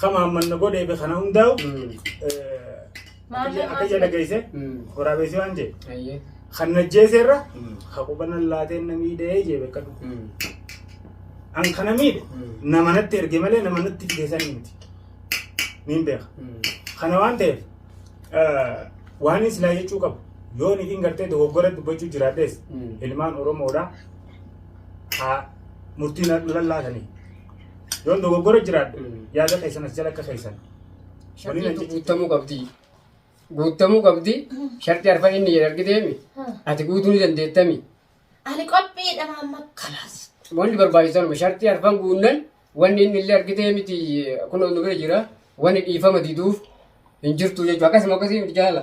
Kama hammanna godhee be kana hundaa'u Maamee akka jala geesse waraabeessi waan jee Ayyee. kan najjeeseerra ka qubana laateen na miidhee jee bakka dhufu. An kana miidhe nama natti erge malee nama natti fide san miti. Niin beeka. Kana waan ta'eef waan inni silaa jechuu qabu yoo nitiin gartee dogoggora dubbachuu jiraadhees ilmaan Oromoodhaa haa murtii na lallaatanii. Yoon dogoggora jiraadhe yaada keessan as jala akka keessan. Waliin Shartii ajjechuutti. guuttamuu qabdi. Guuttamuu qabdi. Shartii arfan inni jedhe argiteemi. Ati guutuu ni dandeettami. Ani qophiidha maamma kalaas. Wanni barbaachisanuma shartii arfan guunnan wanni inni illee argitee miti kun nu bira jira. Wanni dhiifama diduuf hin jirtu jechuudha. Akkasuma akkasii miti jaala.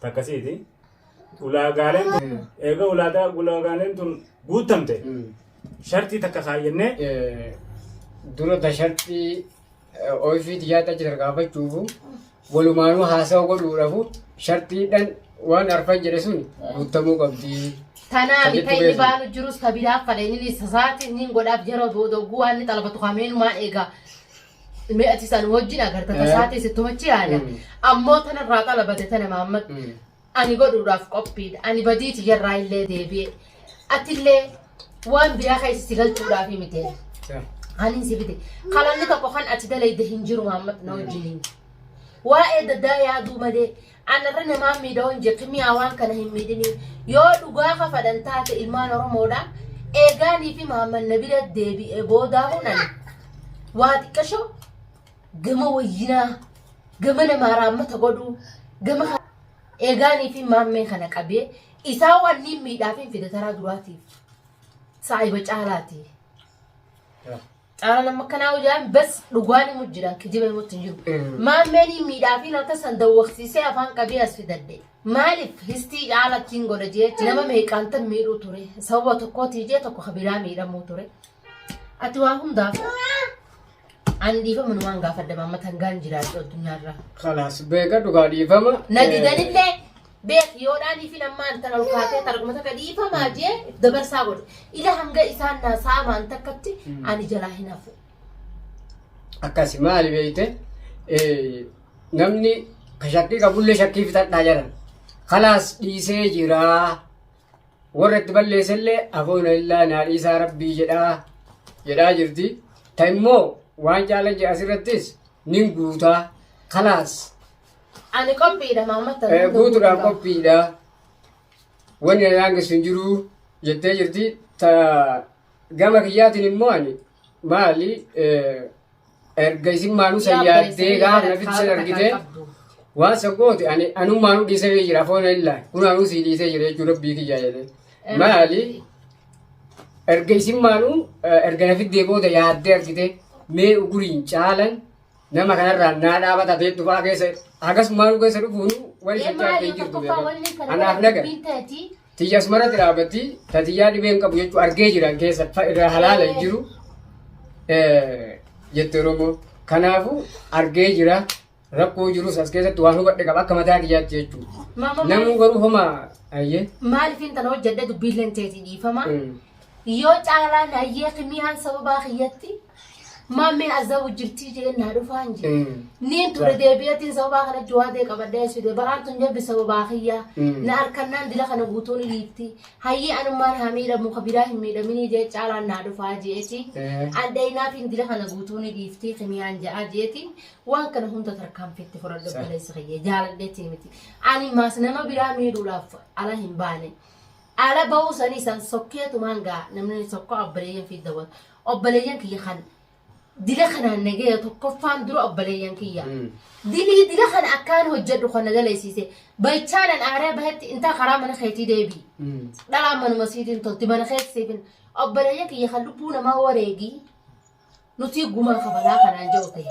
takkasiiti. Ulaagaaleen tun eega ulaagaa ulaagaaleen tun guuttamte shartii takka kaayyannee dura ta shartii oifii tiyyaatti achi tarkaanfachuufu walumaanuu haasawa godhuudhafu shartiidhan waan arfan jedhe sun guuttamuu qabdi. Tanaa Kan bita inni jettu baanu jirus ka biraa fadhe inni sasaati inni godhaaf yeroo booda oguu waan inni xalabatu kameenumaa eega. mee ati isaan wajjin agarta tasaa ta'e sittuma achi yaada ammoo tanarraa xalabate tana maammad ani godhuudhaaf qophiidha ani badii tiyyarraa illee deebi'e atillee waan biraa keessa si galchuudhaaf miti kanin si fide kalanni tokko kan ati dalayde hin jiru maammad na wajjiniin waa'ee daddaa yaaduu malee Anarra namaa miidhoo hin jirtu mi'aa waan kana hin miidhinii yoo dhugaa kafadan taate ilmaan oromoodha eegaanii fi maamman na bira deebi'ee boodaa hunan waa xiqqashoo gama wayyinaa gama namaa raammata godhuu gama ka- eegaanii fi maammee kana qabee isaa wanniin miidhaa fi fidataraa duraatiif saayiba caalaati. Xaala nama kanaa hojaan bas dhugaan himu jira kijiba himutti hin jiru. Maammeen hin miidhaafiin akka san dawwaqsiisee afaan qabee as fidadde. Maaliif histii caalatti hin godha jee nama meeqaan tan miidhuu ture. Sababa tokkootii jee tokko kabiraa miidhamuu ture. Ati waa hundaaf an dhiifama numaan gaafadha maammatan gaan jiraadhu addunyaarraa. Kalaas beeka dhugaa dhiifama. Na didanillee Beek yoo dhaaniifin ammaan tan ol kaatee targuma takka dhiifamaa jee if dabarsaa godhe. Ila hanga isaan naa saamaan takkatti ani jalaa hin hafu. akkasi maali beeyte eh, namni ka shakkii qabullee shakkii fitadhaa jedhan kalaas dhiisee jiraa warra itti balleessellee afoona illaa naa dhiisaa rabbii jedhaa jedhaa jirti ta immoo waan caalan jedhe asirrattis nin guutaa kalaas Ani qophiidha maammatta. Eh, Guutuudhaan qophiidha. Wanni na daangessu hin jiru jettee jirti. Ta gama kiyyaatiin immoo ani maali eh, erga isin maanuu san yaaddee gaafa na bittisan argitee waan san goote ani anummaanuu dhiisee bee jira foona illaa kun anuu sii dhiisee jira jechuun rabbii kiyyaa jedhee. Maali erga isin maanuu eh, erga na fiddee booda yaaddee argitee mee uguriin caalan Nama kanarraa naa dhaabata ta'e dhufaa keessa hagas maaluu keessa dhufuun wal Ee shakkaa maali ta'e tokkoffaa jirtu. wanni kana Anaaf naga. dubbiin ta'eeti. Tiyyas maratti dhaabatti tatiyyaa dhibeen qabu jechuu argee jiran keessa fa- irraa halaala hin jiru Eh, jette Oromoo. Kanaafuu argee jira rakkoo jirus as keessatti waan hubadhe qaba akka mataa kiyyaatti jechuudha. Maama Namuu garuu homaa ayyee. maaliif intala hojjedhe dubbiin ta'eeti dhiifama. Mm. Yoo caalaan hayyee kimiyaan sababaa kiyyatti Maammeen azaa wajjirtii jeen naa dhufaa hin jee. Niin ture deebi'atiin sababaa kana jawaadee qabadhee sude baraan tun jabbi sababaa kiyyaa. Na harkannaan dila kana guutuun dhiifti. Hayyii anummaan haa miidhamu ka biraa hin miidhaminii jee caalaan naa dhufaa jeeti. Andhayinaatiin dila kana guutuun dhiifti kimiyaan ja'a jeeti. Waan kana hunda tarkaanfiitti fudhadhu baleessa kiyya jaaladheetii miti. Ani maas nama biraa miidhuudhaaf ala hin baane. ala ba'uu sanii san sokkeetumaan gaa namni sokkoo abbareeyyan fi dawwatu Obboleeyyan kiyya kan dila kanaan nagaya tokkoffaan dura obboleeyyan kiyya. Mm. Dilii dila kana akkaan hojjedhu kan na daleessiise. Baychaanan aaree bahetti intaa karaa mana keetii deebi. Mm. Dhalaa manuma siitiin tolti mana keessa siifin. Obboleeyyan kiyya kan lubbuu namaa wareegi. Nuti gumaa kabalaa kanaan jiru ta'e.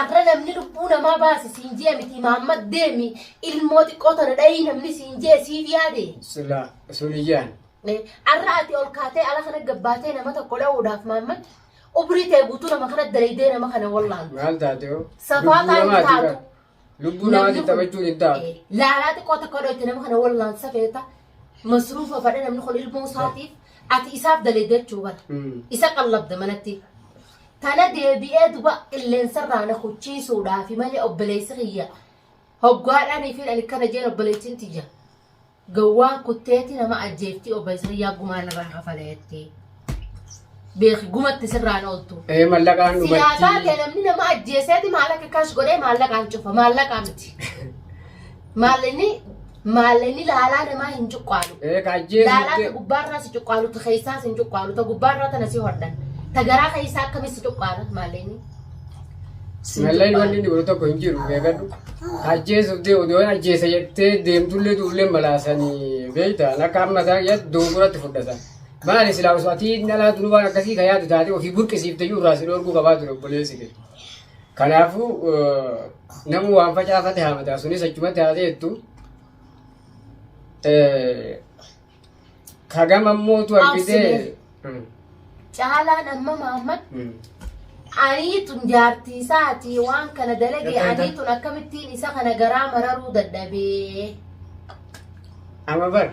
Arra namni lubbuu namaa baase siin jee miti Mahammad deemi ilmoo xiqqoo tana dhayii namni siin jee siif yaade. Sila sun iyyaan. Arra ati ol kaatee ala kana gabbaatee nama tokko dha'uudhaaf Mahammad umrii tee guutuu nama kana dalaydee nama kana wallaan. Maal taate hoo? Safaa Lubbuu taate hin namaati taatu. bar. Lubbuu namaa Namni kun- taphachuu diddaa. Eh, laalaa xiqqoo takka odoo itti nama kana wallaalsa feeta masruufa fadha namni kun ilmoo isaatiif ati isaaf daleedde jechuu bara Hmm. isa qallabda manatti tana deebi'ee duba qilleensarraa na kuchiisuudhaafi malee obboleessi kiyya hoggaadhaanii fi ani kana jeen obboleessin tiyya Gowwaan kutteeti nama ajjeeftii obba isayyaa gumaa narraa kafala jettee. Beeki gumatti sirraan ooltu. Ee mallaqaan Silaa dhumatti. taate namni nama ajjeeseeti maallaqa kaash godhee maallaqaan cufa maallaqaa miti. Maallinni maallinni laalaa namaa hin cuqqaalu. Ee ka ajjeesu Laalaa ta jettee. gubbaarraa si cuqqaalu ta keessaas hin cuqqaalu ta gubbaarraa tana si hodhan. Ta garaa keessaa akkamitti si cuqqaala maallinni. Sinallay wanni inni godhu tokko hin jiru beekadhu. Ajjeesuuf dee odoo ajjeesa jettee deemtullee duullee malaasanii beektaan akka amma isaa yaad doonguratti fudhatan. Maali silaa osoo atii inni alaa dunu waan akkasii ka yaadu taate ofii burqisiifte iyyuu irraa si dhoorguu qabaa ture obboleessi kee. Kanaafuu eh, namuu waan facaafate haamata sunis achumatti haa ta'ettu. Eh, Kagam ammootu argitee. Absineef. Caalaan amma Mahammad aniitun jaartii isaatii waan kana dalagee Egaa- aniitun akkamittiin isa kana garaa mararuu dadhabee Amma bar.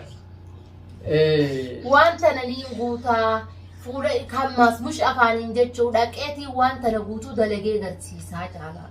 Eh, waan tana niin guutaa fuula hammaas mush afaaniin jechuu dhaqeetiin waan tana guutuu dalagee garsiisaa caalaa.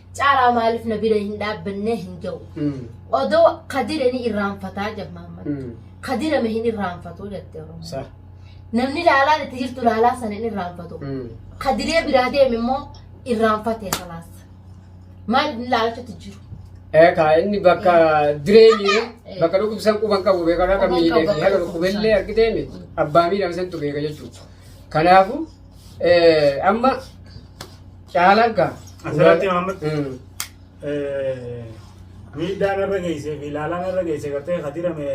Caalaa maaliif na bira hin dhaabbannee hin jedhu. Odoo kadire ni irraanfataa jedha Mahammad. Kadirame hin irraanfatu jette Oromoo. Sa. Namni laalaan itti jirtu laalaa sana hin irraanfatu. Kadiree biraa deeme immoo irraanfate kalaas. Maal inni laalachuutti jiru? Eekaa inni bakka direemi bakka dhukkubsan quban qabu beekaa akka miidhee fi haga dhukkubellee argitee miti abbaa miidhame santu beeka jechuudha. Kanaafuu Amma caalaan kaa. Asirratti Maamad. miidhaan irra geessee fi ilaalaan irra geessee gartee kadirame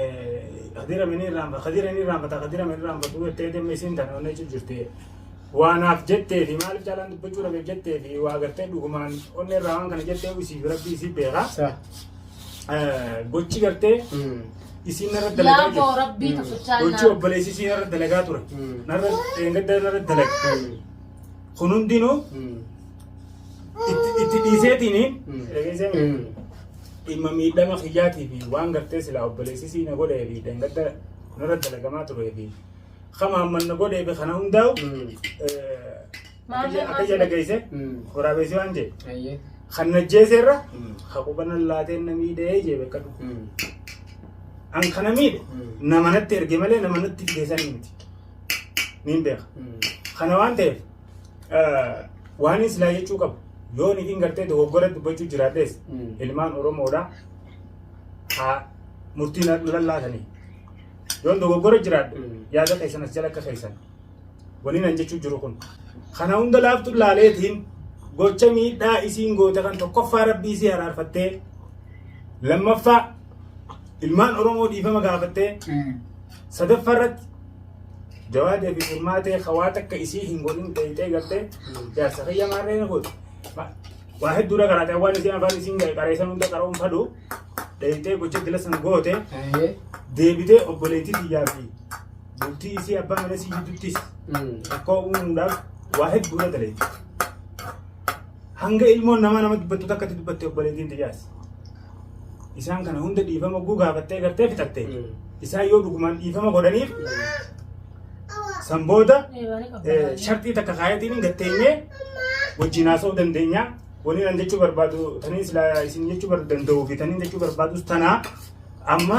kadirame ni irraanfa kadirame ni irraanfata kadirame ni irraanfatu jettee deemee siin tana onnee jirti. Waanaaf jettee fi maaliif caalaan dubbachuu dhabeef jettee fi waa gartee dhugumaan onnee irraa waan kana jettee isii fi rabbii isii beekaa. gochi gartee isiin narra dalagaa Yaa boo rabbii jirti. tuffichaa Gochi naa. obboleessi isiin narra dalagaa ture. Narra dheengadda narra dalaga. Kun hundinuu itti itti dhiiseetiin dhageessee dhimma miidhama kiyyaatii fi waan gartee silaa obboleessi isii na godhee fi dheengadda narra dalagamaa turee fi kama hamman na godhee fi kana hundaa'u eh, Maallee Akka ija maas dhageesse waraabeessi waan jee Ayyee. kan najjeeseerra Mm. haqubanan laateen na miidhee jee beekadhu. Mm. An kana miidhe Mm. nama natti erge malee nama natti fideessan miti. Niin beeka. Mm. Kana waan ta'eef eh, waan inni silaa jechuu qabu yoo nitiin gartee dogoggora dubbachuu jiraadhees Mm. ilmaan Oromoodha haa murtiin lallaatanii. Yoon dogoggora jiraadhe Mm. yaada keessan as jala akka keessan. Waniin an jechuu jiru kun. Kana hunda laaftuun laaleetiin gocha miidhaa isiin goote kan tokkoffaa rabbii isii haraarfattee lammaffaa ilmaan Oromoo dhiifama gaafattee sadaffaa irratti jawaadee fi furmaatee hawaa takka isii hin godhin dheeyxee galtee jaarsa fayya maarree na godhe. Ma- Waa hedduu dha karaatee waan isiin afaan isiin ga'e qareessan hunda qara'uun fadhu dheeyxee gocha dila san goote deebitee obboleettii biyyaa fi bultii isii abbaa mana isii jidduttis rakkoo uumuudhaaf waa hedduu irra daleetti. Hanga ilmoon namaa nama dubbattu takka itti dubbatte obboleettiin tiyyaas. Isaan kana hunda dhiifama guu gaafattee gartee fixatte. Isaan yoo dhugumaan dhiifama godhaniif san booda eh, sharxii takka kaayatiin hin gatteenyee wajjin haasa'uu dandeenya. Waliin an jechuu barbaadu taniin silaa isin jechuu bar- danda'uu fi taniin jechuu barbaadus tanaa amma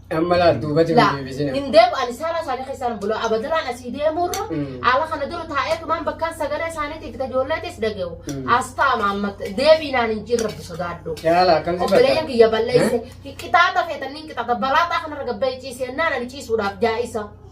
Amma laal duubatti Laa, deebisina. hin deemu ani saala isaanii keessaan bula abadalaan asii deemuurra Mm. haala kana dura taa'ee tumaan bakkaan sagalee isaaniitiif ta ijoolleetis dhagahu Mm. as taa'ama amma deebiinaan hin jirre rabbi sodaadhu Yaala akkam si obboleeyyan bakka. kiyya balleesse qixaata feetanniin qixaata balaataa kanarra gabbee ciisee naan ani ciisuudhaaf jaa'isa